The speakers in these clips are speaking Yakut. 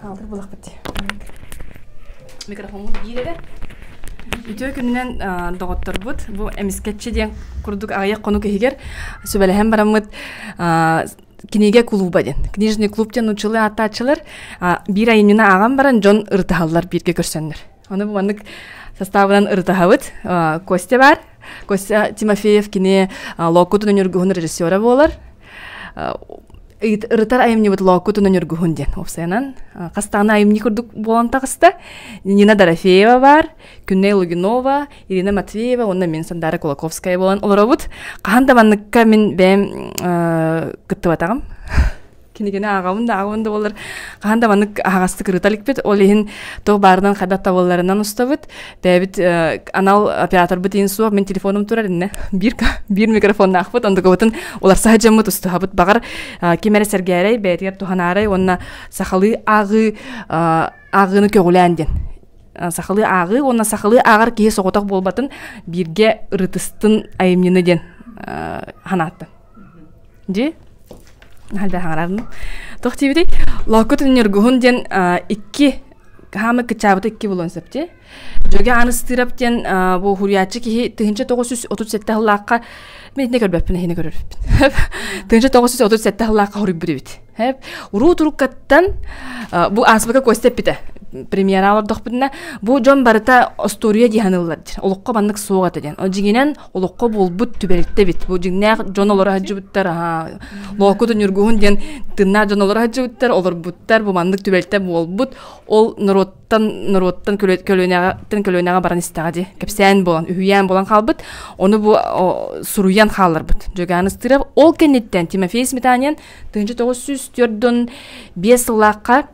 Хаалтыр булахпыт. Микрофоммут биирэрэ. Үтүө күнүнэн доҕотторбут бу эмискэччи диэн курдук аҕыйах конук иһигэр сүбэлэһэн бараммыт кинигэ клуба диэн книжный клуб диэн учулы ааттааччылар биир айымньыны ааҕан баран дьон ырытыһаллар бииргэ көрсөннөр Оны маннык састаабынан ырытаһабыт. Костя бар. Костя Тимофеев кини локкутун өнөргүһүн режиссера болар. ырытар айымныбыт локкутун өнөргүһүн диэн опсайынан хастаана айымни курдук болан тахыста Нина Дорофеева бар Күнней Лугинова Ирина Матвеева онна мен Сандара Кулаковская болан олоробут хаһан да манныкка мин бэм кыттыбатаҕым кинигини ааҕабын да ааҕабын да болар хаһан да маннык аһаҕастык ырыта иликпит ол иһин туох баарынан хайдах табылларынан устабыт бэйэбит анал операторбут иин суох мин телефоном турар иннэ биир биир микрофоннаахпыт ондукабытын уларса саһыдьаммыт устуһабыт баҕар ким эрэ сэргээрэй бэйэтигэр туһанаарай уонна сахалыы ааҕыы ааҕыыны көҕүлээн диэн сахалыы ааҕыы уонна сахалыы ааҕар киһи соҕотох буолбатын бииргэ ырытыстын айымньыны диэн санааттан Дьи Альда хаҥарарым Туох диэбитэй Лооккут Ньургуһун диэн икки хаама кычаабыта икки буолуон сөп дии Дьөгө Аныстыырап диэн бу уһуйааччы киһи тыһыынча тоҕус жүз отут сэттэ сыллаахха Мин итини көрбөппүн иһини көрөрбүн Тыһыынча тоҕус жүз отут сэттэ сыллаахха хоруйбут эбит Уруу туруктаттан бу ааспыка Костя эппитэ премьера олордохпутуна бу дьон барыта остуоруйа дии саныыллар диэн олоххо маннык суох этэ диэн Дьиҥинэн олоххо буолбут түбэлтэ эбит бу дьиҥнээх дьон олоро садьыбыттар аһаа лооккуту ньургуһун диэн тыннаах дьон олоро садьыбыттар олорбуттар бу маннык түбэлтэ буолбут ол норуоттан норуоттан көлүөнэҕиттэн көлүөнэҕэ баран истэҕэ дии кэпсээн буолан үһүйээн буолан хаалбыт ону бу суруйан хаалларбыт Дьөгөөн Ыстырап ол кэнниттэн Тимофей Сметанин тыһыынча тоҕус сүүс төрт сыллаахха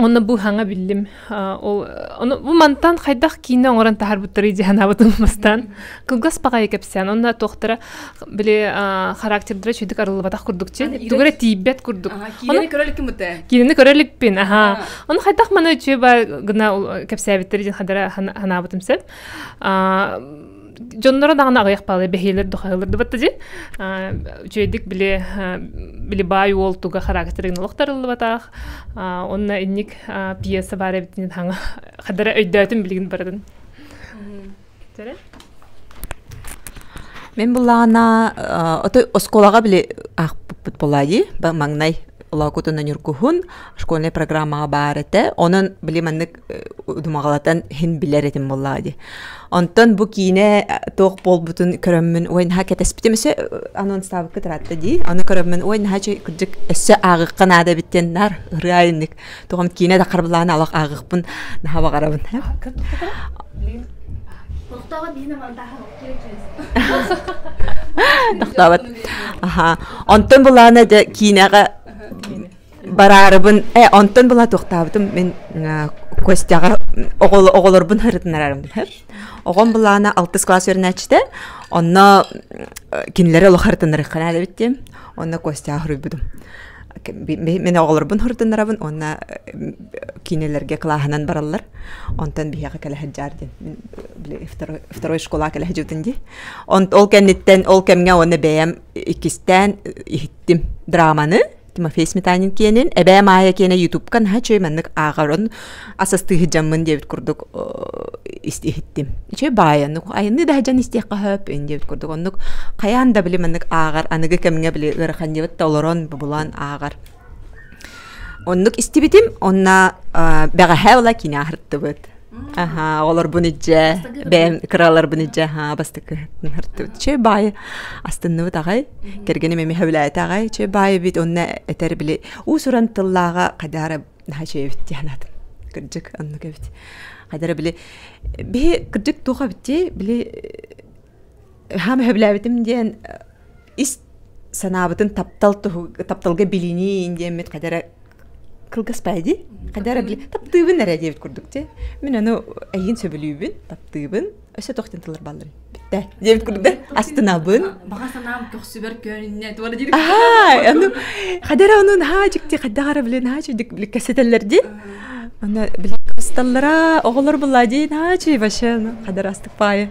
Онно бу саҥа биллим. Ол ону бу мантан хайдах киинэ оҥорон таһаарбыттары дии санаабытым бастаан. Кылгас паҕайы кэпсээн. Онно туохтара били характердара чөйдүк арыллыбатах курдук чи. Тугу эрэ тиийбэт курдук. Киинэни көрө иликпин Киинэни көрө иликпин. Аха. Ону хайдах мана үчүгэй ба гына кэпсээбиттэр дии хадара санаабытым сөп. дьонноро даҕаны аҕыйах паалы бэһиэлэр дохайылырдыбатта дин үчүгэйдик били били баай уол туга характерын олохторуллубатаах онно инник пьеса бар эбитин хаҥа хадара өйдөөтүн билигин баратын мен буллаана отой осколаға біле ақпыт болайы маҥнай лоокутына нюргуһун школьный программаға бар этэ онон били маннык думаҕалатан һин билэр этим буллаа ди онтон бу киинэ туох буолбутун көрөммүн ой наһаа кэтэспитим өссө анонстаабыкка таратта ди аны көрөммүн ой наһаа кырдьык өссө аагыкка наада эбиттен наар ырыайыннык тоҕом киинэ да харбылаана алах аагыкпын наһаа баҕарабын тохтообот аха онтон булаана да киинэҕэ бараарыбын э онтон была туохтаабытым мин Костяҕа оҕолорбун ырытынарарым оҕом былаана алтыс класс үөрэнээччитэ онно кинилэри олох ырытыннарыхха наадабыт диэн онно Костяҕа суруйбутум мен оҕолорбун ырытыннарабын онно кинилэргэ клаһынан бараллар онтон биһиэхэ кэлэһит жаар диэн второй школа кэлэһиджутун ди ол кэнниттэн ол кэмҥэ онно бэйэм иккистээн иһиттим драманы Тимофей Сметанин киэнин, Эбээ Маайа киэнэ Ютубка наһаа үчүгэй маннык ааҕарон асастыы сыдьаммын диэбит курдук истиһиттим. Үчүгэй баайа, айанны да дьон истиэххэ хөп диэбит курдук. Оннук хайаан да били маннык ааҕар, аныгы кэмҥэ били ыараханньыбыт да олорон, бубулаан ааҕар. Оннук истибитим, онна бэҕэһээ ыла кино аһыртыбыт. аха олорбун ижже бэйэм кыраларбын ижже аха бастакы чөй баайы астынныбыт аҕай кэргеним эми хөбүлээти аҕай чөй баайы бит онна этэр били уусуран тыллааҕа хадара наха чөйбит дианатын кырдьык онну кэбит хадара били биһи кырдьык туха битти били хам хөбүлээбитим диэн ис санаабытын таптал тапталга билинии диэммит хадара кылгас пээди хадара таптыыбын эрэ диэбит курдук те мин аны эйин сөбүлүүбүн таптыыбын өссө тохтен тыллар баллын битте диэбит курдук да астынабын баҕа санаам көхсүбэр көөнүннэ туора диир аха аны хадара онун haa чикти хаддаҕара билин haa чудик билкэсэтэллэр дии аны билкасталлара оҕолор булла диин haa чуй вообще хадара астык паайы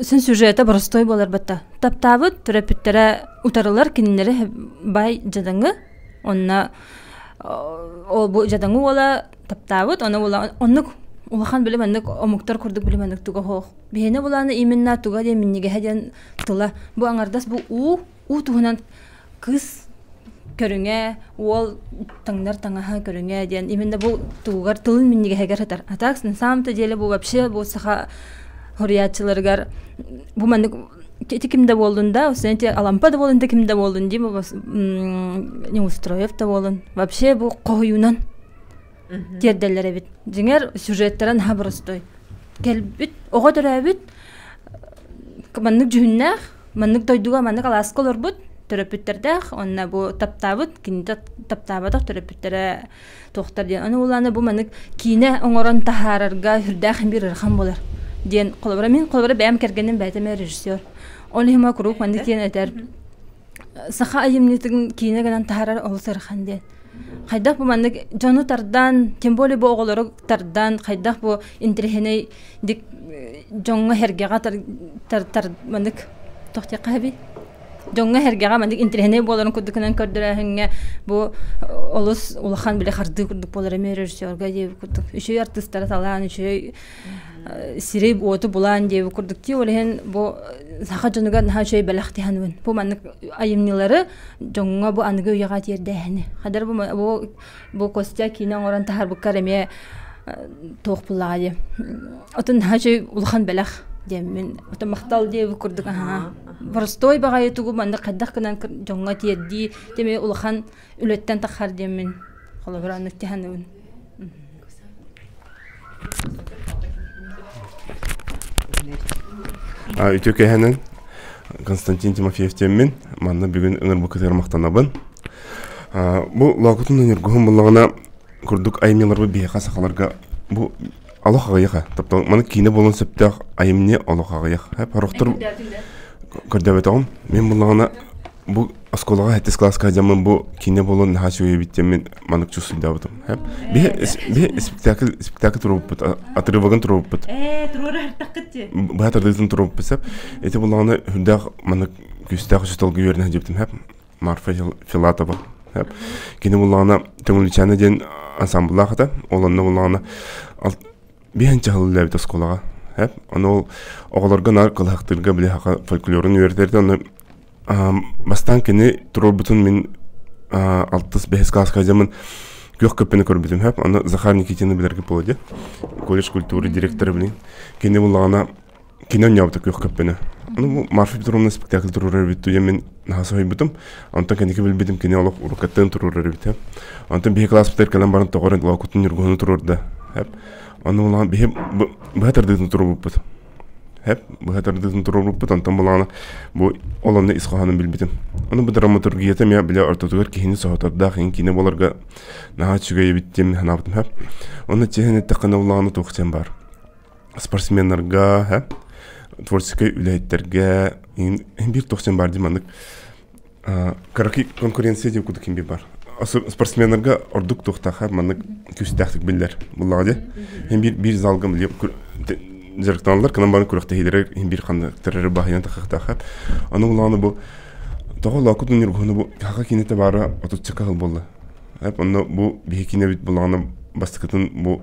син сюжета боростуой буолар батта таптаабыт төрөппүттэрэ утарылар кинилэри бай дьадаҥы онно бу дьадаҥы уола таптаабыт онно уола оннук улахан били маннык омуктар курдук били маннык туга хоох биһиэнэ булааны именно туга диэн минньигэһэ диэн тыла бу аҥардас бу уу уу туһунан кыыс көрүҥэ уол таҥнар таҥаһы көрүҥэ диэн именно бу тугугар тылын минньигэһигэр сытар а так на самом-то деле бу вообще бу саха хоруйааччыларыгар бу маннык ити ким да буоллун да знаете алампа да буоллун да ким да буоллун дим не устроев да буоллун вообще бу хоһуйунан тиэрдэллэр эбит дьиҥэр сюжеттарын аһа боростой кэлбит оҕо төрөөбүт маннык дьүһүннээх маннык дойдуга маннык алааска олорбут төрөппүттэрдээх онно бу таптаабыт кинита таптаабатах төрөппүттэрэ туохтар диэн аны улаана бу маннык киинэ оҥорон таһаарарга үрдээх биир ыарахан болар диэн холобура мин холобура бэйэм кэргэним бэйэтэ режиссер ол иһин куруук маннык диэн этэр саха айымньытын киинэ гынан таһаарар олус ыарахан диэн хайдах бу маннык дьону тардан тем более бу оҕолору тардан хайдах бу интриһинэй дик дьоҥҥо эргэҕэ тар, тар, тар маннык тохтиахха эби дьоҥҥо эргэҕэ маннык интриһинэй буоларын курдукунан көрдөрөөһүҥҥэ бу олус улахан биле хардыы курдук буолар эмиэ режиссерга диэби курдук үчүгэй артыыстары талаан үчүгэй сири уоту булаан диэби курдук тии ол иһин бу саха дьонугар наһаа үчүгэй бэлэхтиһэн бу маннык айымньылары дьоҥҥо бу аныгы үйэҕэ тиэрдээһини хадар бу бу костя киинэ оҥорон таһарбыккар эмиэ туох буллаҕа дии отун наһаа үчүгэй улахан бэлэх диэммин отон махтал дии бу курдук аhaa боростуой баҕайы тугу маннык хайдах гынан дьоҥҥо тиэрдии эмиэ улахан үлэттэн таххар диэммин холобура оннук тиһаныбын үтүө кэһэнин Константин Тимофеевтеммин манна бүгүн ынар букытыгар махтанабын бу лоокутун ньыргуһун буллаҕына курдук аймиларбы биһиэхэ сахаларга бу олох аҕыйаха таптал маны киинэ буолан сөптөөх айымньы олох аҕыйах хап хорохтор көрдөөбөтөҕүм мен буллаҕына бу оскуолаҕа сэттис класска дьаммын бу киинэ буолан наһаа үчүгэй эбит диэн мин маннык чувствуйдаабытым биһи спектакль спектакль туруорбуппут отрывогын туруорбуппут ээ туруорар артаххыт дии быһа тардыытын туруорбуппут сеп ити буллаҕына үрдээх маннык күстээх үсүталга үөрэнэ сылдьыбытым хэп марфа филатова хэп кини буллаҕына төҥүлүчээнэ диэн ансамблаах этэ ол онно буллаҕына Биһэн чаһыллаабыт оскуолаҕа. Эп, ону оҕолорго наар кылахтыырга билиһаха фольклорун үөрэтэрде. Ону бастаан кини туруорбутун мин алтыс бэһис кылааска дьамын күөх көппені көрбүтүм хэп. Аны Захар Никитины билэргэ болады. Колледж культуры директора билин. Кини буллаҕына Кини онньообута күөх көппөнө. Ну, Марфа Петровна спектакль туруорар эбит туйа мин наһаа соһуйбутум. Онтон кинигэ билбитим кини олох уруккаттан туруорар эбит эм. Онтон биһи класспытыгар кэлэн баран тоҕо эрэ Лоокутун Ньургуһуну туруорда. Хэп. Ону улахан биһи быһа тардыытын туруорбуппут. Хэп быһа тардыытын туруорбуппут онтон булаана бу олонно ис хоһоонун билбитим. Ону бу драматургията миа билэ ортотугар киһини соһотордаах ин киинэ боларга наһаа үчүгэй эбиттим санаабытым хэп. Ону тиһэн эттэххэ улаана туох сен бар. спортсменнарга э, творческай үлэһиттэргэ биир тохсун баар дии маннык кыраки конкуренция диэн куду ким бар спортсменнарга ордук туохтаха маннык күүстээхтик биллэр буллаҕа дии эн биир биир залга биле жарыктаналар кынан барын күрөхтэһиилер ин бир хандыктарары баһыйан тахахтаха аны улааны бу тоҕо лоокутун ньургуһуну бу хаха кинете баара отутча каһыл болла эп онно бу биһи кинебит булаана бастыкытын бу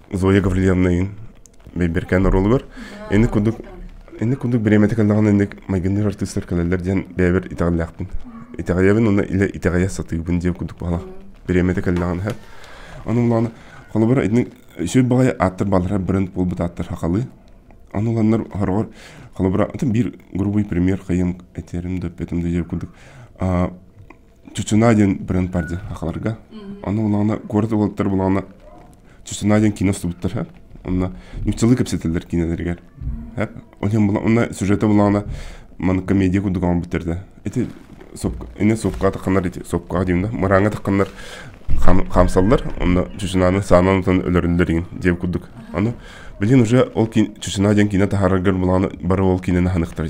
Зоя Гавлильевнайын Бэйбэркээн оруолугар ини кудук ини кудук бириэмэтэ кэллэҕинэ инник майгынныыр артыыстар кэлэллэр диэн бэйэбэр итэҕэллээхпин итэҕэйэбин уонна илэ итэҕэйэ сатыыбын диэн кудук баҕалаах бириэмэтэ кэллэҕинэ иһэ ону улаана холобура итинник сүр баҕайы ааттар баалара бренд буолбут ааттар хахалыы аны уланнар хороҕор холобура атын биир грубуй пример хайым этэрим да өппөтүм да кудук Чучуна диэн бренд бар дии хахаларга. Ону улаана город уолаттар булаана Чучуна диэн кино устубуттар ха. Онна ньуччалыы кэпсэтэллэр кинилэригэр. Ха. Ол иһин була онна сюжета булаана ман комедия курдук оҥорбуттар да. Ити сопка эне сопкаата ханар ити сопкаға деймін мырааңа таққандар хамсаллар онно чучунаны саанан утан өлөрүллэрин деп курдук аны билин уже ол чучуна диэн кино таһараргар булааны бары ол киноны ханыктар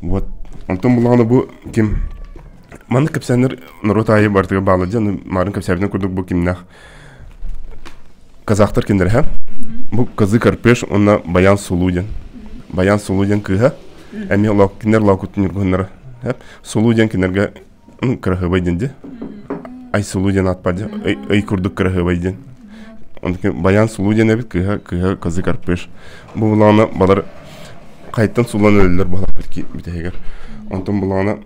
Вот. Онтон булаҕына бу ким маннык кэпсээннэр норуот аайы барытыгар баалла дьон марын кэпсээбитин курдук бу кимнээх казахтар киндер ха бу кызы карпеш уонна баян сулу диэн баян сулу диэн кыыһа эмиэ кинилэр лаукуттуннар сулу диэн кинилэргэ кыраһыабай диэн ди айсулу диэн аат бар ди ый курдук кыраһыабай диэн баян сулу диэн эбит кыһа кыһа кызы карпыш бу булаана балар қайтан сулан өлөллөр балар бүтэһигер онтон булаана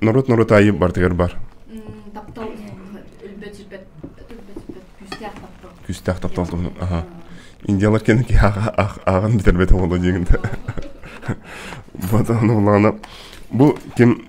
норуот норуот айы бартыгар бар таптал өлбөт сүппэт күстээх таптал күстээх таптал туһун аха индиялар кені ки ааган битербет боло диегинде бата булаана бу ким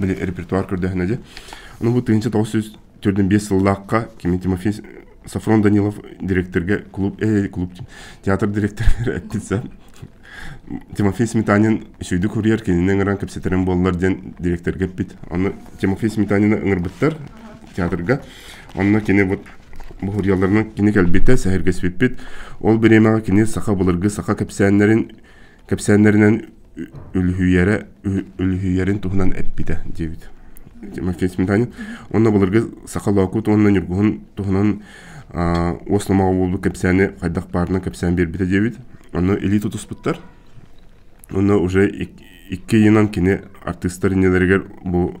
били репертуар көрдөһүнэ дьэ ну бу тыһыынча тоҕус жүз төрдүн биэс сыллаахха кими тимофей сафрон данилов директорга клуб э клуб театр директорыгар эппитсэ тимофей сметанин сүйдү курьер кинини ыҥыран кэпсэтэрин буоллар диэн директорга эппит онно тимофей сметанины ыҥырбыттар театрга онно кини вот буһурияларынан кини кэлбитэ сэһэргэспиппит ол бириэмэҕэ кини саха былыргы саха кэпсээннэрин кэпсээннэринэн үлүһүйэрэ үлүһүйэрин туһунан эппитэ диэбит Максимтанин уонна былыргы саха лоокут уонна ньургуһун туһунан уос номоҕо буолбут кэпсээни хайдах баарынан кэпсээн биэрбитэ диэбит онно илии тутуспуттар уонна уже икки ыйынан кини артыыстар иннилэригэр бу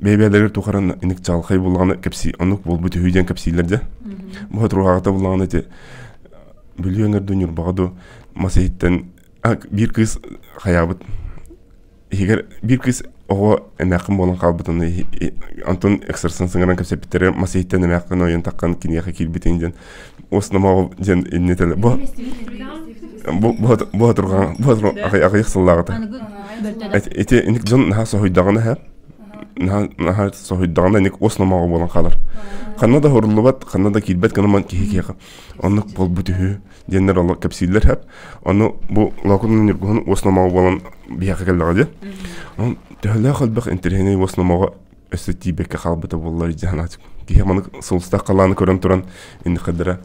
бэйбээлэргэр тухаран иник чалхай буллаҕына кэпсии оннук буолбут үһү диэн кэпсиилэр дьэ быһыт руаҕата буллаҕына ити бүлүөңэрдүү ньурбаҕа ду мас иһиттэн биир кыыс хаyaабыт иһигэр биир кыыс оҕо эмээххин буолан хаалбытын антон эксерсон сыҥаран кэпсэппиттэрэ мас иһиттэн эмээххин ойон таххан киниэхэ киирбитин диэн в основном диэн иннителе бу бу турган бу ахыйах сыллаҕыта эти иник дьон наха соһуйдаҕына һэ наха соһуйдаҕына иник основноҕа буолан хаалар ханна да хоруллубат ханна да киирбэт гынан киһи киэҕэ оннук буолбут үһү диэннэр оло кэпсииллэр хап ону бу локунун ньургуһун основноҕа буолан биһиэхэ кэллэҕэ дии төһөлөөх элбэх интириһинэй основноҕа өссө тиийбэккэ хаалбыта буоллар дьаһанаат киһи маны сулустаах халааны көрөн туран иннихадара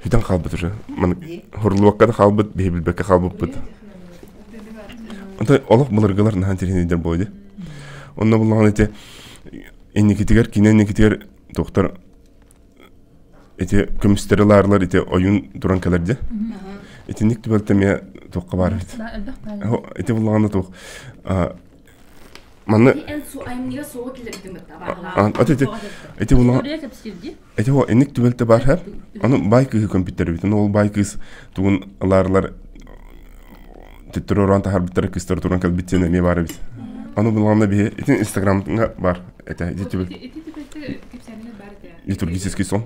сүтэн хаалбыт уже маны хурлуокка да хаалбыт биһи билбэккэ хаалбыппыт онтой олох былыргылар наһан тиринидер бойду онно буллаҕын ити инникитигэр кине инникитигэр доктор ити көмүстери лаарылар ити ойун туран кэлерде итинник түбэлтэмие туохка баар эбит ити буллаҕына туох Манны ити уна ити о инник түбэлтэ баар һэр аны бай кыыһы көмпүттэрбитин ол бай кыыс тугун ылаарылар теттеророн таһарбыттара кыстар туран кэлбит сен эмиэ баар эбит аны буланна биһи итин инстаграмга бар этэ ити түбэл литургический сон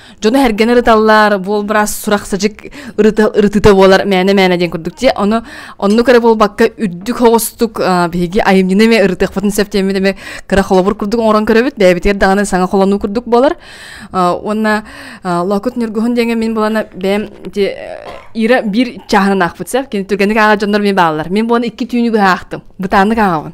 дьону эргэнэр ыталлар буол быраас сурахсажык ырытыта буолар мээнэ мээнэ диэн курдук тиэ ону оннук эрэ буолбакка үрдүк хоҕустук биһиги айымньыны эмэ ырытыахпытын сөп диэммит эмэ кыра холобур курдук оҥорон көрөбүт бэйэбитигэр даҕаны саҥа холонуу курдук буолар уонна локут ньургуһун диэҥэ мин булана бэйэм ира биир чааһынан аахпыт сеп кини түргэнник ааҕа дьоннор мин бааллар мин буону икки түүнү быһаахтым бытааннык ааҕабын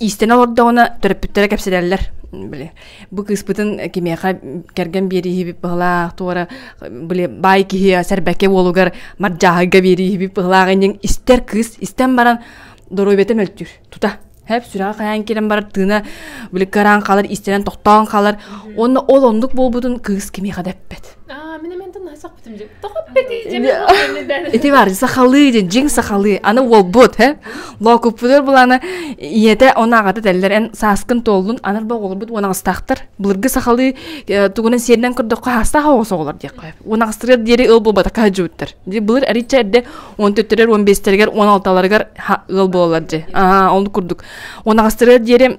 Иистэнэ олордоҕуна төрөппүттэрэ кэпсэтэллэр били бу кыыспытын кимиэхэ кэргэн биэрииһибит быһылаах туора били баай киһи сэрбэкэ уолугар мардьааһайга биэрииһибит быһылаах иннин истэр кыыс истэн баран доруобита мөлтүүр тута хэп сүрэҕэ хайаан киирэн барар тыына били кыраан хаалар истэрэн тохтоон хаалар уонна ол оннук буолбутун кыыс кимиэхэ да эппэт Ити бар, сахалыы, дьиҥ сахалыы, аны уолбут, һэ? Лоокуппутур булана, ийэтэ онаағата тэллер, эн сааскын туоллун, анар ба оҕолорбут унаҕастаахтар. Былыргы сахалыы тугунан сиэринэн көрдөххө хаастаах оҕос оҕолор диэххэ. Унаҕастырыар диэри ыл буолбатака хадьыбыттар. Дии былыр арича эрде 14-лэр 15-лэригэр 16-ларыгар ыал бололар дьи. Аа, ол курдук. Унаҕастырыар диэри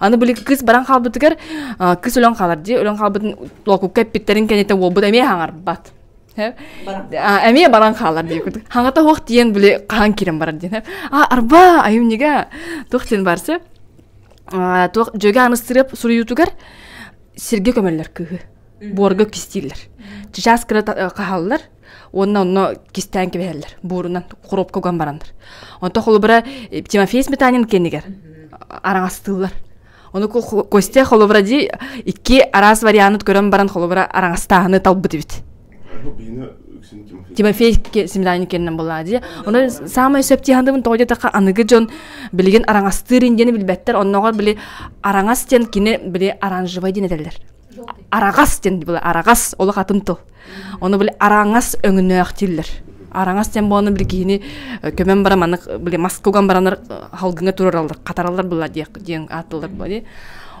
Аны былыгы кыс баран хаалбытыгар кыс өлөн хаалар дии өлөн хаалбытын локукка эппиттэрин кэннитэ уолбут эмиэ хаҥарбат эмиэ баран хаалар дии куду хаҥата хуох тиен били хаан кирен барар диэн а арба айымнига туох тиен барсы туох жөге аныстырып суруютугар сирге көмөллөр кыһы буорга кистииллер чычаас кыра каһаллар уонна онно кистээн кэбиһэллэр буурунан коробка уган бараннар онто холобура э, тимофей сметанин кэнигэр араҥастыыллар ону костя холобура ди икки араас вариант көрөн баран холобура араҥастааһыны талбыт эбит тимофей семрани кеннен былади ону самый сөп тиhandыбын тоҕо диэтахха аныгы дьон билигин араҥастыыр диэни билбэттэр онногор били араҥас диэн кини били оранжевай диэн этэллэр араҕас диэн била араҕас олох атын тыл ону били араҥас өҥнөөх дииллэр араҥас диэн буолана били киһини көмөн баран маннык били маска уган баранар халгыҥа турараллар хатараллар былар диэн ааттылар буоле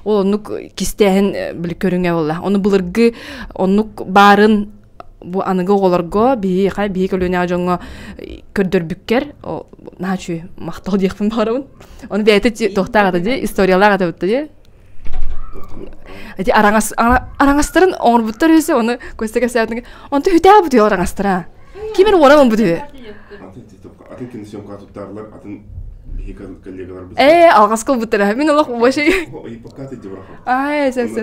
ол оннук кистээһин били көрүҥэ болла ону былыргы оннук баарын бу аныгы оҕолорго биһиэхэ биһи көлүөнэҕэ дьоҥҥо көрдөрбүккэр наачу махтал диэхпин баҕарабын ону бэйэтэ туохтаах ата дии историялаах ата бутта дии Ити араҥас араҥастарын оҥорбуттар үһү оны Костя кэпсээтин онто үтээ бу түһү араҥастара кимин уоран он бу түһү атын киносъемкаҕа туттаарылар атын биһиги коллегаларбыт ээ алҕас кылбыттара мин олох вообще ай сэ сэ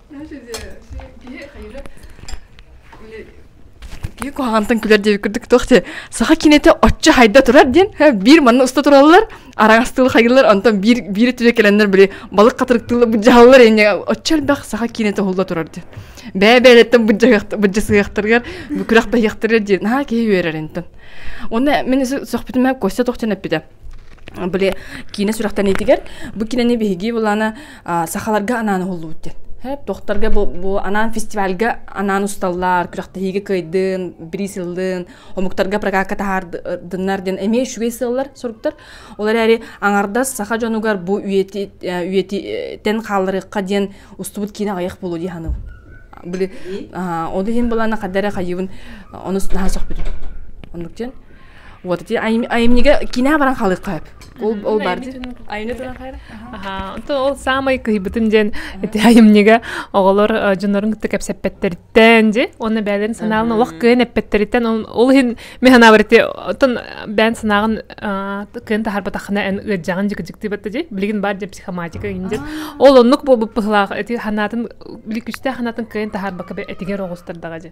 киһи хайыра киһи куһаҕантан күлэр диэбит курдук туох диэ саха киниэтэ оччо хайда турар диэн биир манна уста тураллар араҥас тылы хайыллар онтон биир биир өттүгэ кэлэннэр били балык хатырык тылы быдьаһаллар инньэ оччо элбэх саха киниэтэ оһулла турар диэн бэйэ бэйэлэриттэн быдьасыһыахтарыгар күрэх бэһиэхтэригэр диэн наһаа киһи үөрэр интэн онно мин сөхпүтүм костя тохтон эппитэ Били киинэ сүрэхтэниитигэр бу киинэни биһиги булана сахаларга анаан уһуллубут диэн. Тохтарга бу анаан фестивальга анаан усталлар, күрэхтэһиигэ кыайдын, бири сыллын, омуктарга прокатка таһаардыннар диэн эмиэ үчүгэй сыаллар соруктар. Ол эрээри аҥардас саха дьонугар бу үйэтитэн хаалларыахха диэн устубут киинэ аҕыйах буолуо дии саныыбын. Били ол иһин булана хадара хайыбын онус наһаа сөхпүтүм. Оннук диэн вот ити айымньыга кино баран халыахха сөп ол ол бар айымньы туран хайра ол саамай кыһыйбытым диэн ити айымньыга оҕолор дьоннорун кытта кэпсэппэттэриттэн дьи онно бэйэлэрин санааларын олох кыайан эппэттэриттэн ол иһин мэхэнабар ити оттон бээн санааҕын кыайан таһарбатахына эн ыырдьаҕын дьыкыдьыктыыбатта дьи билигин баар дьэ психоматика индир ол оннук буолбут быһылаах ити ханаатын күстээх ханаатын кыайан таһарбакка этигэр оҕустардаҕа дьи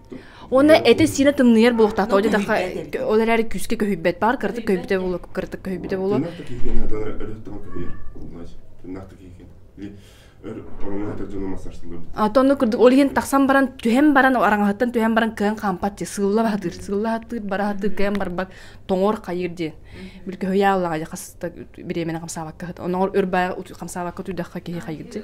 Уонна этэ-сиинэ тымныйар буолуохтаах. диэтэххэ, ол эрээри күүскэ көһүйбэт баар, кыратык көһүйбүтэ буолуо, кыратык көһүйбүтэ буолуо. Тымнаахтык иһигин аталара өлөттөҕө көһүйэр. Тымнаахтык иһигин. Ороҥҥа дьону массарсыллыбыт. Ата ону курдук ол иһин тахсан баран түһэн баран араҥаһыттан түһэн баран кыһан хаампат дии сылла баһатыыр сылла хатыыр бара хатыыр кыһан барбат тоҥор хайыыр диэн бил көһүйэ аллаҕа хас бириэмэни хамсаабакка хат оноҕор өр баа хамсаабакка туйдахха киһи хайыыр дии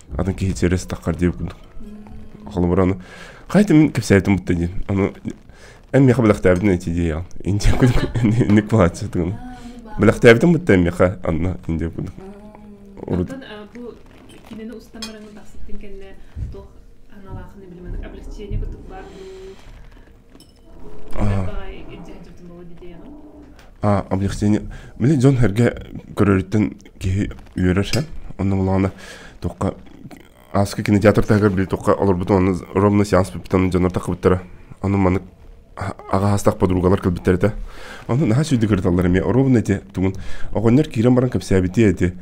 атын киһи сэрес таххар диэбит курдук холобура аны хайытын кэпсээбитим бутта дии аны эн миэхэ бэлэхтээбитин эти диэйэҕин индия курдук ник былааччытыгын бэлэхтээбитим бутта миэхэ анна индия курдук урут бу кинини устан бараҥын тахсыттын кэннэ туох аналаахын билимэн облегчение кутук бар дуу объективно били дьон-сэргэ көрөрүттэн киһи үөрэр ше онно булаана токка ааска кинотеатртаагар били токка олорбуту онно ровно сеанс биппитан дьонор тахыбыттара ону манык агаастах подругалар кэлбиттэр этэ ону наһаа сүйдү кырыталлар эмиэ оруобуна эти тугун оҕонньор киирэн баран кэпсээбити эти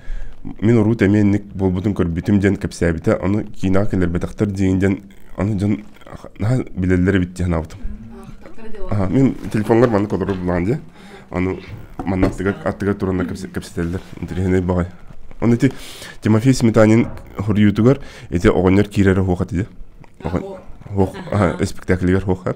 мин урут эмиэ инник буолбутун көрбүтүм диэн кэпсээбитэ ону киинэҕэ кэлэрбэтэхтэр диин диэн аны дьон наһаа билэллэри битти санаабытым мин телефонгар маннык олорор булаан дии аны манна аттыгар аттыгар тураннар кэпсэтэллэр интэриэһинэй баҕай ону ити тимофей сметанин хоруйуутугар ити оҕонньор киирэрэ хуохат ди спектаклигэр хуохар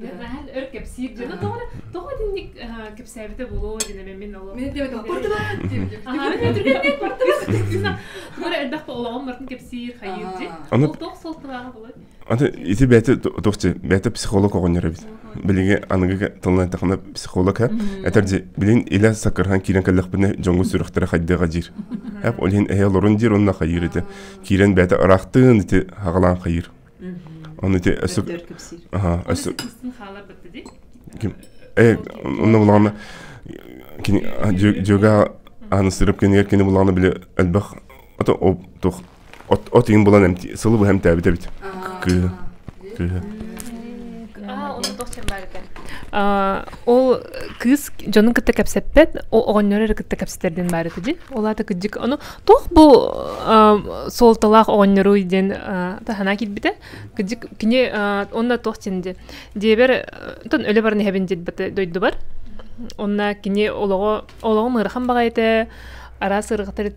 Наһан өр кэпсиир дьоно тоҕо тоҕо итинник кэпсээбитэ буолуо дин эме мин олох мен дебет куртулар диэбитим аһаарын өтүргэннэ куртула туора элбэхпэ олоҕум мартын кэпсиир хайыыр дин тоқ солтулааҕа болой аны ити бэйте тохче бэйте психолог оҕонньор эбит билиҥи аныгы тылынан эттэххинэ психолог һэ этэрди билин илэ саккырхан киирэн кэллэхпинэ дьоҥҥу сүрэхтэрэ хайдыаҕа диир эп ол иһин эһэ олорун диир онна хайыыр ити киирэн бэйте ыраахтын ити хагалаан хайыыр Оны те өсөп өсөп ким э онно булгана кини жога аны сырып кенегер кини булгана биле элбэх ото тух от от ин булан эмти сылы бу хем тәбит эбит кыы кыы ол кыыс дьонун кытта кэпсэппэт оҕонньор эрэ кытта кэпсэтэрдин баарыты дин ол аата кыддык ону Туох бу суолталаах оҕонньоруй диэн таһана кирбите. Кыдык кини онна туох тинди. Диэбэр тон өлө баран эһэбин дирбате дойдубар. Онна кини олоҕо олоҕу мырахан баҕа этэ араас ырғатар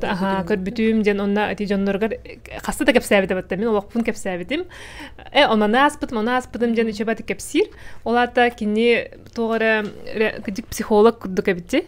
аха көрбүтүм диэн онна ати дьонноргар хаста да кэпсээбитэ батта мин олохпун кэпсээбитим э онаны ааспытым оны ааспытым диэн үчөбати кэпсиир ол аата кини тоҕо эрэ кыдык психолог курдук эбити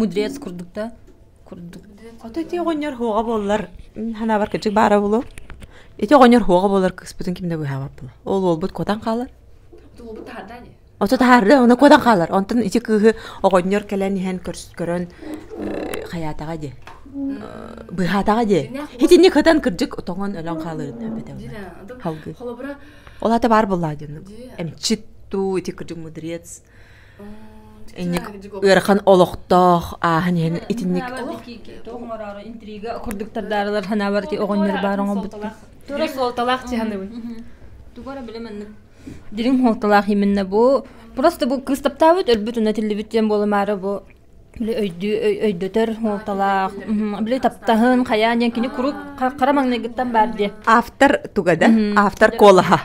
мудрец курдук да курдук хото ити оҕонньор хуоҕа буоллар ханабар кырдьык баара булу ити оҕонньор хуоҕа буоллар кыспытын ким да быһаабат булу ол уолбут куотан хаалан оту таһаарда оны куотан хаалар онтон ити кыыһы оҕонньор кэлэн иһэн көрөн хаyaатаҕа диэн быһаатаҕа диэн итинник кытан кырдьык тоҥон өлөн хааларын халгы ол ата баар буллаа диэн эмчит дуу ити кырдьык мудрец инник ыарахан олохтоох ааһан иһэн итинник интрига курдуктардаарылар ханаабарти оҕонньор баар оҥорбуттар тура суолталаах чыһаныбын тугара биле маннык дириҥ хуолталаах именно бу просто бу кыстаптаабыт өлбүт уна тиллибит диэн буолумаары бу Били өйдүү өй- өйдөтөр уолталаах, мм, били таптаһын, хайаан диэн кини куруук ха- хара маҥнайгыттан баар дии. Автор туга да? Мгм. Автор куолаһа.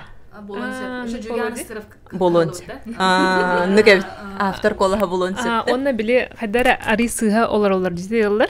Болон А, сөп. Жириганскров Болон сөп. А, ну кэбит. Автор куолаһа булуон сөп. А, да. уонна били хайдара арый сыыһа олор олор дии ыаллар.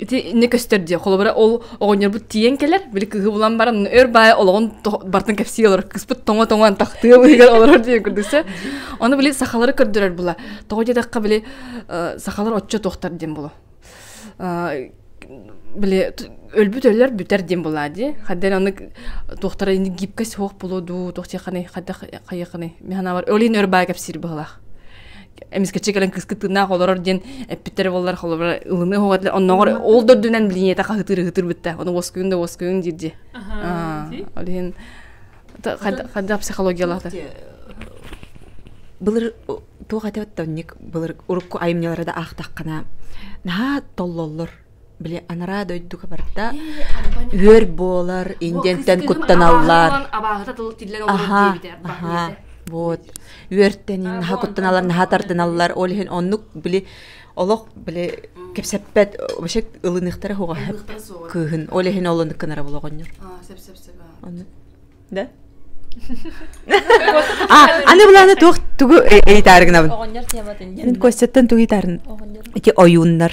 Ити инне көстөр дии. Холобура ол оҕонньорбут тиийэн кэлэр, били кыыһы булан баран өр баайа олоҕун бартын кэпсии олорор, кыыспыт тоҥо-тоҥоон тахтыа быыгар олорор диэн курдук сэ. Ону били сахалары көрдөрөр була. Тоҕо диэтэххэ били сахалар оччо туохтар диэн була. Били өлбүт өлөр бүтэр диэн була дии. Хадден аны туохтара ини гибкэ суох булу дуу, туох тиэхэни хадах хайыхыны. Механавар өлин өр баайа кэпсиир быһылаах. эмискэчи кэлэн кыска тыыннаах олорор диэн эппиттэрэ боллар холобура ылыныы хоҕотлар оннооҕор ол да үрдүнэн билиниэтэ хаһытыр ыһытыр бүттэ оны воскуйун да воскуйун диирди ол иһин хадда психологиялаахтар былыр туох этэ оттонник былыр урукку айымньылары да аахтаххына наһаа толлоллор Били анараа дойдуга барда. Үөр буолар, индиэнтэн куттаналлар. Абааһыта тылы тиллэр олорор диэбитэ. Аха, вот. Үөртэн наһаа куттаналар, наһаа тардыналлар. Ол иһин оннук били олох били кэпсэппэт вообще ылыныхтара хоҕа кыыһын. Ол иһин олонук кынара булоҕонньор. Аа, сеп-сеп-сеп. Оннук. Да? А, аны буланы туох тугу итаарыгынабын? Оҕонньор тематын. Мен Костяттан тугу итарын? Оҕонньор. Эки ойууннар.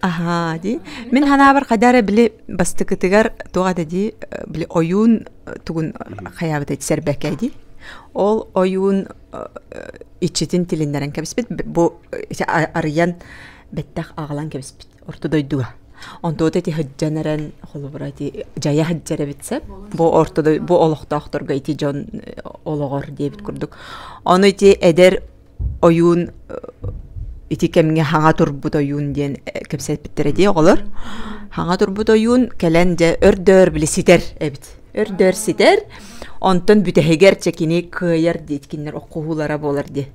Аха, дии. Мин ханаабар хайда эрэ били бастыкытыгар туга да дии били ойуун тугун хаябыта сэрбэкэ дии. Ол ойуун иччитин тилиннэрэн кэбиспит бу арыйан бэттэх аҕалан кэбиспит орто дойдуга. Онтуота ити һыддьан эрэн холобура ити дьайа һыддьар эбит сеп. Бу орто бу олохтоохторго ити дьон олоҕор диэбит курдук. Ону ити эдэр ойуун ити кэмҥэ хаҥа турбут ойуун диэн кэпсэппиттэр этии оҕолор хаҥа турбут ойуун кэлэн дьэ өрдөөр били ситэр эбит өрдөөр ситэр онтон бүтэһигэр чэ кини кыайар диэткиннэр оқуһуулара буолар дии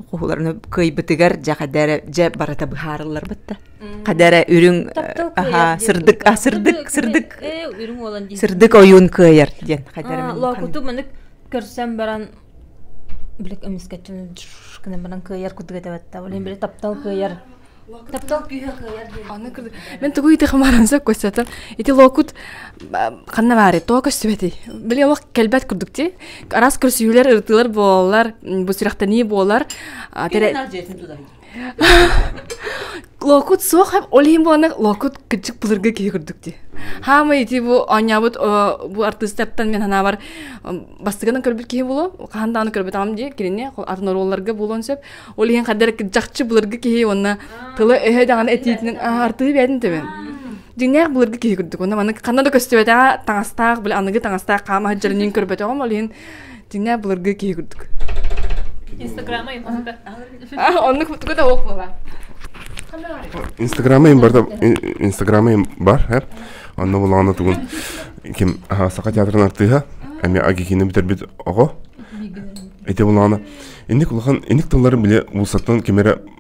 оқуһууларын кыайбытыгар дьэ хадэрэ дьэ барыта быһаарылларбыт да хадэрэ үрүҥ аһаа сырдык а сырдык сырдык үрүҥ уолан сырдык ойуун кыайар диэн хадэрэ лоокуту манык көрсөн баран билек эмискэччи гынан баран кыайар курдук этэбэт да блин били таптал кыайар таптал күүһэ кыайар диэн аны мен тугу ити хамаранса көссөтөн ити локут ханна баары тоо көссүбэти били омок келбет курдук ти арас көрсүһүүлэр ырытыылар буолалар бу сүрэхтэнии буолар локут суох һәм ол иһин буолана локут кытчык былыргы киһи курдук дии хаамай ити бу оонньообут бу артыыстартан мен санаабар бастыгынан көрбүт киһи булу хаһан даҕаны көрбүт ам дии кинини атын оруолларга буолуон сөп ол иһин хаддар жакчы былыргы киһи уонна тыла өһө даҕаны этиитинин артыы бээтин төбөн дьиҥнээх былыргы киһи курдук уонна маны ханна да көстүбэтэҕэ таҥастаах били аныгы таҥастаах хаама сылдьарын көрбөтөҕүм ол иһин Динэ былыргы киһи курдук. Инстаграма импортата. Оннук тугу да уох була. Инстаграма им барда Инстаграма им бар хэр. Онно булаана тугун ким саха театрын артыыһа эми агикини бүтэрбит оҕо. Эти булаана. Инник улахан инник тылларын биле улсаттан кимере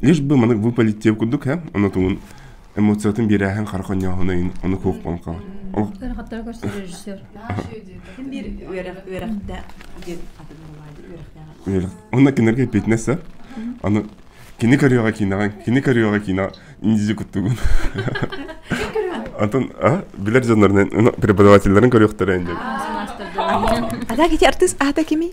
лишь бы маннык выпалить тиэм курдук һэ ону тугун эмоциятын биэрээһин хара хонньооһунойын ону куохпон хаҕа Тарҕаттара көрсө режиссер. Ким биир үөрэхтээх диэн атын баҕаайы үөрэх. Онно кинилэргэ эппитинэсэ. Аны кини көрүөҕэ киинэҕэ, кини көрүөҕэ киинэҕэ индизи куттугун. Антон, а билэр дьоннорунан преподавателлэрин көрүөхтэрэ инде. Адаг ити артыыс аата кими?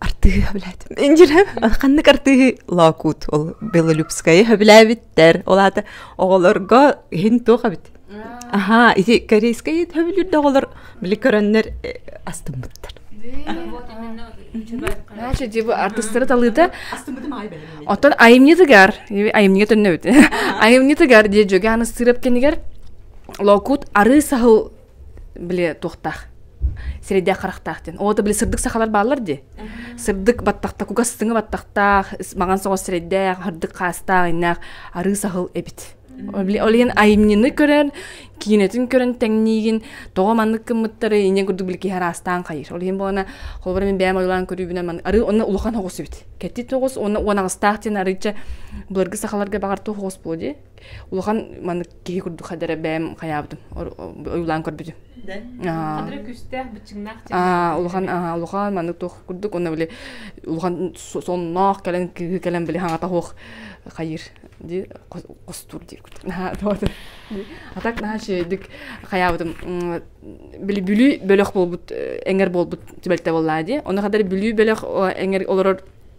артыыһы өбүлээтим инжирэ ханнык артыыһы лоокут ол белолюбскайы өбүлээбиттэр ол аата оҕолорго иһин туох эбит аха ити корейскайы өбүлүүрдэ оҕолор били көрөннөр э, астыммыттар Наша дибы артыстары талыыта Оттон айымньытыгар айымньыга төннөбүт айымньытыгар дие жөгө аны сырып кенигер локут ары сахыл били туохтаах сирэйдээх харахтаах диэн оо били сырдык сахалар бааллар дии сырдык баттахта кугас сыҥы баттахтаах маҥан соҕус сирэйдээх сырдык хаастаах айнаах арыы саһыл эбит ол иһин айымньыны көрөн киинэтин көрөн тэҥниигин тоҕо маннык гыммыттары иньэ курдук били киһи араастаан хайыр ол иһин буолана холобура мин бэйэм ойулаан көрүүбүнэн маны арыы онно улахан оҕус эбит кэти тоҕус уонна уанаҕастаах диэн арыычча былыргы сахаларга баҕар туох оҕус буолуо дии улахан маннык киһи курдук хадара бэйэм хайаабытым ойуулаан көрбүтүм хадара күстээх быччыҥнаах улахан улахан маннык туох курдук онно били улахан сонноох кэлэн кыыһы кэлэн били хаҥата хуох хайыр ди хостуур диир курдук наһаа туота а так наһаа шейдик хайаабытым били бүлүү бөлөх буолбут эҥэр буолбут түбэлтэ буоллаа ди оны хадара бүлүү бөлөх эҥэр олорор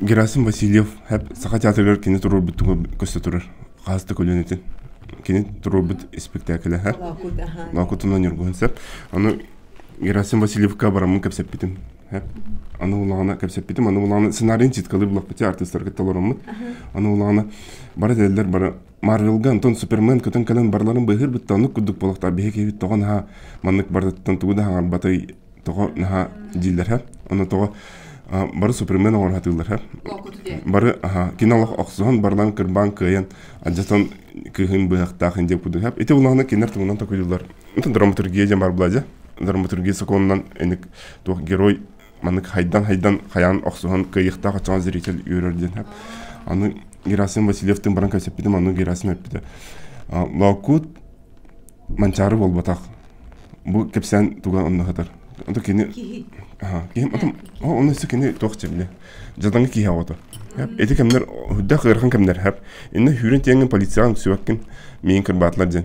Герасим Васильев һэп Саха театрыгар кини туруорбут туга көстө турар хаастык өлөнүтүн кини туруорбут испектаклэ һэ лаакутунан ньургуһун сеп аны Герасим Васильевка бараммын кэпсэппитим һэп аны улаана кэпсэппитим аны улаана сценарийин ситкалы булаппыти артыыстарга толороммут аны улаана бара деллер бара Марвелга онтон Супермен көтөн кэлэн барларын быыһыыр бүттэ оннук курдук буолуохтаах биһиги киһибит тоҕо наһаа маннык барытыттан тугу да хаҥарбатай тоҕо наһаа дииллэрэ ону тоҕо бары супермен оҥоро сатыыллара бары аха кино олох охсуһан барылан кырбаан кыайан адьатан кыһын быһахтаахын диэн курдук ити улаана кинилэр тугунан токуйуллар онтон драматургия диэн бар була дьэ драматургия сокуонунан эник туох герой маннык хайдан-хайдан хайаан охсуһан кыайыахтаах очоҕун зритель үөрөр диэн хат аны Герасим Васильевтыын баран кэпсэппитим анну Герасим эппитэ Лоокуут Манчаары буолбатах бу кэпсээн туга онно хатар онто кини киһим отум онно исэ кини туох чэбилэ жадаҥы киһи ото эти кэмнер хүддэх ыарахан кэмнер хап инна хүрэн тиэҥин полицияҕын сүбэккин миин кырбаатылар диэн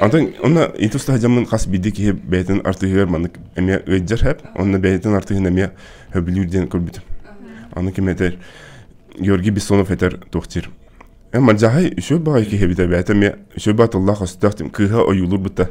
Атын онна итус таһыдьаммын хас биди киһи бэйэтин артыһыгар маннык эмиэ ыйдьар хэп, онно бэйэтин артыһын эмиэ хөбүлүүр диэн көрбүтүм. Аны кимэтэр Георгий Бессонов этэр туохтир. Эн мардьаһай үсөй баҕай киһи битэ бээтэ эмиэ үсөй баа тыллаах өстөөх тим кыыһа ойуулур быта.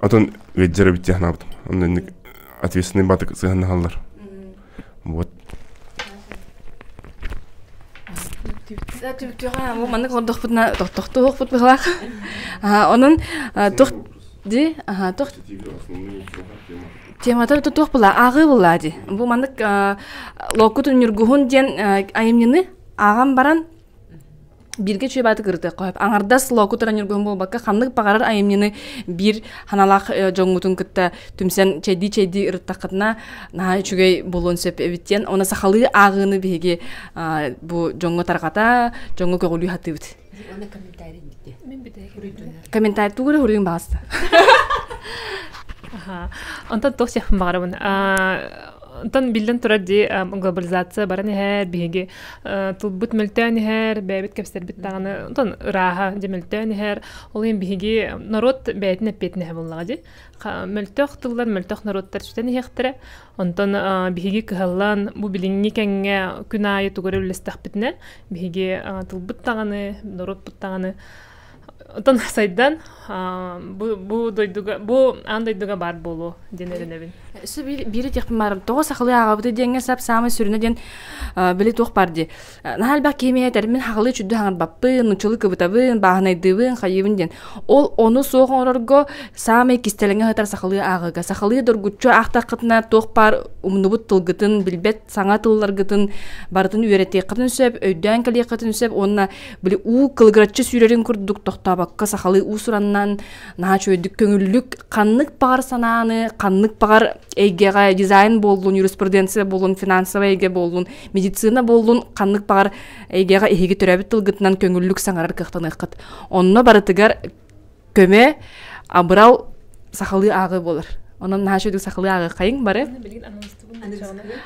отон веддера бит технабыт оннук ответственный батык сыһаннаһаллар вот Түптүға маннык ордохпутна тохтохтуохпут быһылах. Онон тух ди тух темата туох була аагы була ди. Бу маннык локутун нюргуһун диэн айымньыны ааган баран бииргэ чуйбааты кырытыахха сөп аҥардас локу траннергун буолбакка ханнык баҕарар айымньыны биир ханалаах дьоҥҥутун кытта түмсэн чэйдии чэйдии ырыттаххытына наһаа үчүгэй буолуон сөп эбит диэн уонна сахалыы ааҕыыны биһиги бу дьоҥҥо тарҕата дьоҥҥо көҕүлүү сатыыбыт комментарий тугу хоруйуҥ баҕаста онтон туох сиэхпин баҕарабын Тан биллэн турар дии глобализация баран иһэр, биһиги тылбыт мөлтөөн иһэр, бэйэбит кэпсэрбит даҕаны тон ырааһа дьэ мөлтөөн иһэр. Ол иһин биһиги норуот бэйэтин эппиэтинэһэ буоллаҕа дии. Мөлтөх тыллар, мөлтөх норуоттар сүтэн иһиэхтэрэ. Онтон биһиги кыһаллан бу билиҥҥи кэмҥэ күн аайы тугу эрэ үллэстэхпитинэ биһиги тылбыт даҕаны, норуотпут даҕаны Оттон сайдан бу дойдуга бу аан дойдуга баар буолуо диэн эрэнэбин. Су бири техпимарым тоҕо сахылы аагабыты диэҥҥэ сап саамай сүрүнэ диэн били туох бар ди наһаа элбэх киһимиэ тэрмин хахылы чүддү хаңарбаппын нучулы кыбытабын бааһынайдыыбын хайыыбын диэн ол ону суох оҥорорго саамай кистэлэҥэ хатар сахылыы аагыга сахылыы доргуччу аахтаххытына туох бар умнубут тылгытын билбэт саҥа тылларгытын барытын үөрэтиэххитин сөп өйдөөн кэлиэххитин сөп уонна били уу кылыгыраччы сүүрэрин курдук тохтообокко сахалыы уусураннан наһаа чөйдүк көҥүллүк ханнык баҕар санааны ханнык баҕар эйгэҕэ дизайн буоллун юриспруденция буоллун финансовай эйгэ буоллун медицина буоллун ханнык баҕар эйгэҕэ эһиги төрөөбүт тылгытынан көҥүллүк саҥарар кыахтаныаххыт онно барытыгар көмө абырал сахалыы ааҕыы болар онон наһаа үчүгү сахалыы ааҕы хайың бары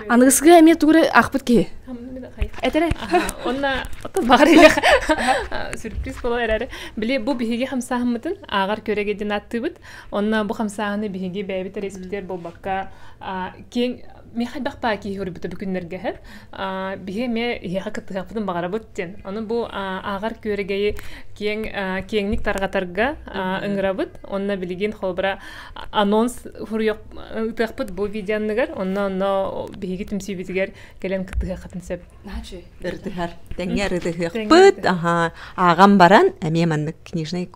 аныгысыга эмиэ тугу ахпыт киһи этере онна оттон баҕарыга сюрприз боло эрэри били бу биһиги хамсаахыммытын ааҕар көрөге дин аттыбыт онна бу хамсаахыны биһиги бэйбит респитер болбакка кең мен хайдах таакии хоруйбута бу күннэргэ һэр биһи эме иһиэхэ кыттыһаппытын баҕарабыт диэн аны бу ааҕар күөрэгэйи киэң киэҥник тарҕатарга ыңырабыт онно билигин холбура анонс хуруйох ытыахпыт бу видеоныгар онно онно биһиги түмсүүбүтүгэр кэлэн кыттыһыаххытын сөп ырдыһар тэҥҥэ ырытыһыахпыт аха ааҕан баран эмиэ маннык книжный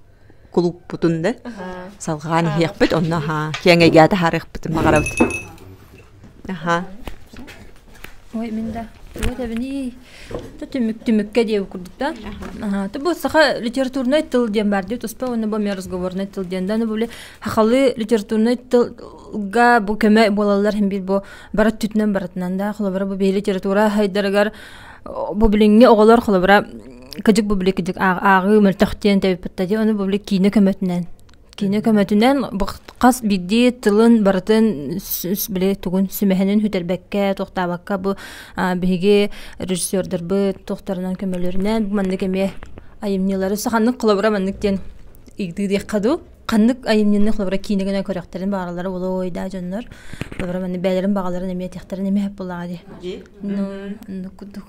кулуппутун да салҕаан иһиэхпит онно аһаа киэҥэйгэ таһаарыахпытын баҕарабыт аһаа ой мин да вот эбини то түмүк түмүккэ диэб курдук да аhaa то бу саха литературнай тыл диэн бар диэт успа уонна бу миэ разговорнай тыл диэн да були хахалы литературнай тылга бу көмө буолаллар хин бир бу барат түтүнэн баратынан да холобура бу биһи литература хайдарыгар бу билиҥҥи оҕолор холобура кыдьык бублик кыдьык ааҕыы мөлтөхтиэн тэбиппитте ди ону бублик киинэ көмөтүнэн киинэ көмөтүнэн хас биирдии тылын барытын били тугун сүмэһинин хүтэрбэккэ тохтаабакка бу биһиги режиссердербыт тохтарынан көмөлөрүнэн бу маннык эмиэ айымньылары саханнык холобура маннык диэн ыйдыы диэххэ дуу ханнык айымньыны холобура киинэ гына көрөхтөрүн баалалара болой да дьоннор холобура манны бээлэрин баҕаларын эмиэ тиэхтэрин эмиэ буолаҕа ди ну курдук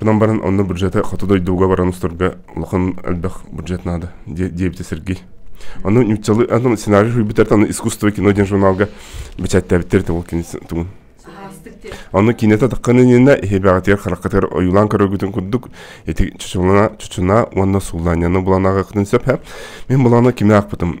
Онон баран онно бюджеты хоту дойдуга баран устарга улахан элбэх бюджет наада, диэбитэ Сергей. Аны нюцалы, аны сценарий суруйбуттар, аны искусство кино диэн журналга бэчээттээбиттэр ол кино тугун. Аны кинете таққанынына хебағатыгар қараққатыгар ойулан көрөгүтін курдук эти чучуна чучуна уонна сулланяны буланагыктын сөп мен буланы киме акпытым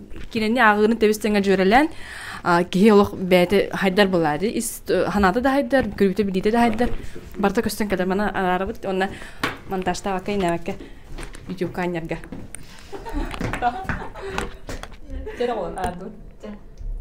кинини ааҕыырын тэбис-тэҥэ дьүөрэлээн киһи олох бэйэтэ хайдар былаады ис ханаата да хайдар көрүүтэ билиитэ да хайдар барыта көстөн кэлэр мана араарабыт уонна монтажтаабакка инээбэккэ ютуб каннерга